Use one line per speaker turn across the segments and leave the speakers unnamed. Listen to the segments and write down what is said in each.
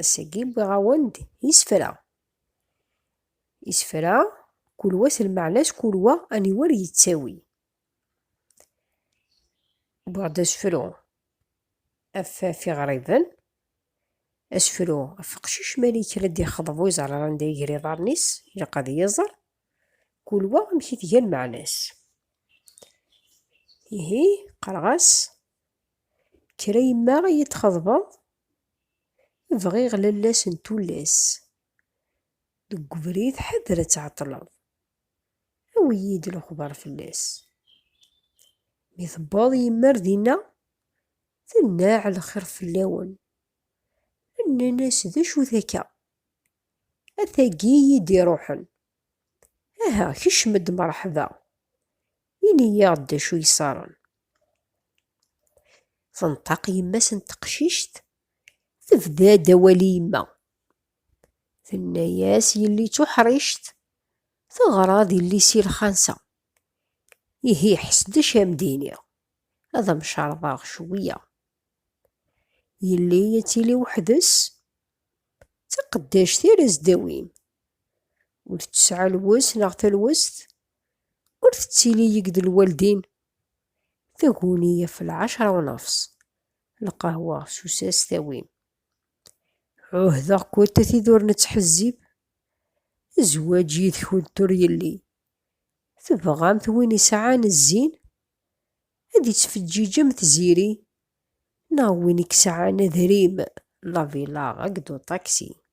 Ass-agi wwiɣ-awen-d isefra. Isefra, kul wa s lmeɛna-s, kul wa aniwer yettawi. Wwiɣ-d asefru af af iɣriben, asefru af uqcic mi ara yekker ad d-yexḍeb ur iẓerr ara anda iger iḍarren-is, ilaq ad yiẓer, kul wa amek i tga lmeɛna-s. Ihi qqareɣ-as, kker a yemma ad yi-d-txeḍbeḍ, Bɣiɣ lallas n tullas. Deg ubrid ḥader ad tɛeṭṭleḍ. Awi-yi-d lexbar fell-as. Mi tewweḍ yemma-r dinna. Tennaɛ lxir fell-awen. Nnan-as d acu-t akka. A tagi iyi-d-iruḥen. Aha kecm-d merḥba. Ini-yaɣ-d d acu yeṣṣaren. Tenṭaq yemma-s n teqcict, tebda-d awal i yemma. Tenna-yas yelli d tuḥrict, teɣra d yelli-s i lxansa. Ihi ḥess d acu am d-iniɣ, ad am-cerḍeɣ cwiya. Yelli ad tili weḥd-s, d taqeddact ara s-d-awin. Ur tesɛi lwes neɣ talwest ur tettili yeg d lwaldin. Taguni ɣef lɛecra unafṣ, lqahwa s usas tawim. Ɛuhdeɣ-kent a tid ur nettḥezzib, zzwaǧ yid-kent ur yelli. Tebɣamt win isɛan zzin ad ittfeǧǧiǧ am tziri neɣ win i yesɛan adrim, lavilaɣ akked uṭaksi.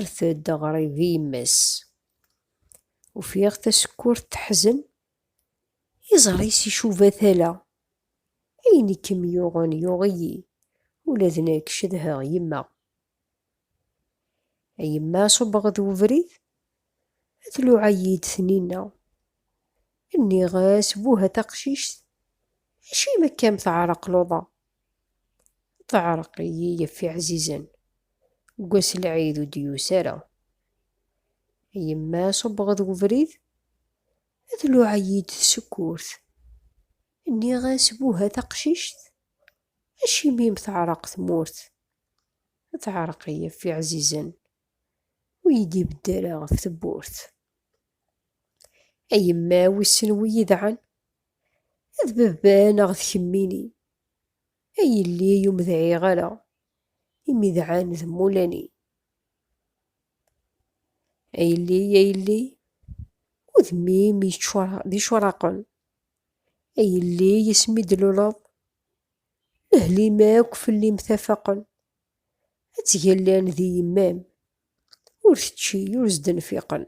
Rret-d aɣrib i yemma-s. Ufiɣ tasekkurt teḥzen, iẓri-s icuba tala. Ayen i kem-yuɣen yuɣ-iyi, ula d nekk cedheɣ yemma. A yemma ṣubbeɣ-d webrid. Tluɛa-yi-d Tninna. Nniɣ-as, Buh a taqcict, acimi akka-m teɛreq luḍa? Teɛreq-iyi yef iɛzizen, deg wass lɛid ur d-yusi ara. Yemma ṣubbeɣ-d webrid, tluɛa-yi-d tsekkurt. Nniɣ-as, Buh a taqcict, acimi-m teɛreq tmurt? Teɛreq-iyi yef iɛzizen. ur yi-d-ibedd ara ɣef tewwurt. A yemma wissen wi yedɛan? D baba neɣ d kemmini? A yelli ur medɛiɣ ara, imi dɛan d mulani. A yelli, a yelli, udem-im yeččur d icuraqen. A yelli, yesmi d-luleḍ, lehli-m akk fell-i mtafaqen. Ad ttgallan di yemma-m, ur tečči, ur s-d-nfiqen.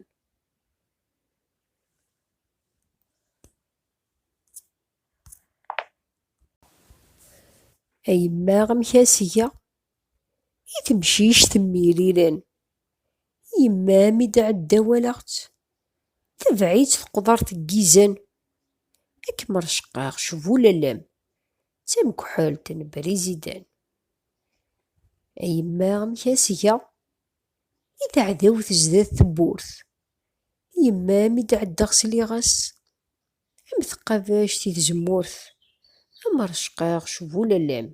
A yemma amek a s-geɣ? I temcict mmirilen. Yemma mi d-tɛedda walaɣ-tt, tebɛ-itt tqeḍert n yizan. Ad kem-reccqeɣ cbulalem, d tamekḥelt n Briziden. A yemma amek asga i teɛdawt zdat tewwurt, yemma mi d-ɛeddaɣ sliɣ-as am tqabact i tzemmurt, am rrecqaɣ s bu lallam,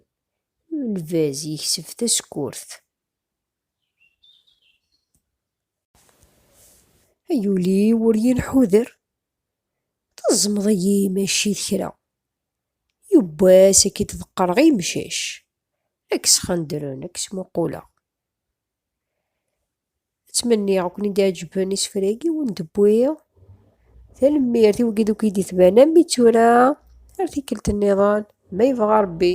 lbaz yekseb tasekkurt. Ay ul-iw ur yenḥuder, teẓmeḍ-iyi mačči d kra. Yiwwas ad k-id-ḍeqqreɣ i yemcac, ad k-sxendren, ad k-smuquleɣ. Ttmenniɣ ad ken-id-ɛeǧben isefra-agi i wen-d-wwiɣ. Tanemmirt i wagi uk id-itban am i tura, ar tikkelt-nniḍen, ma yebɣa Rebbi.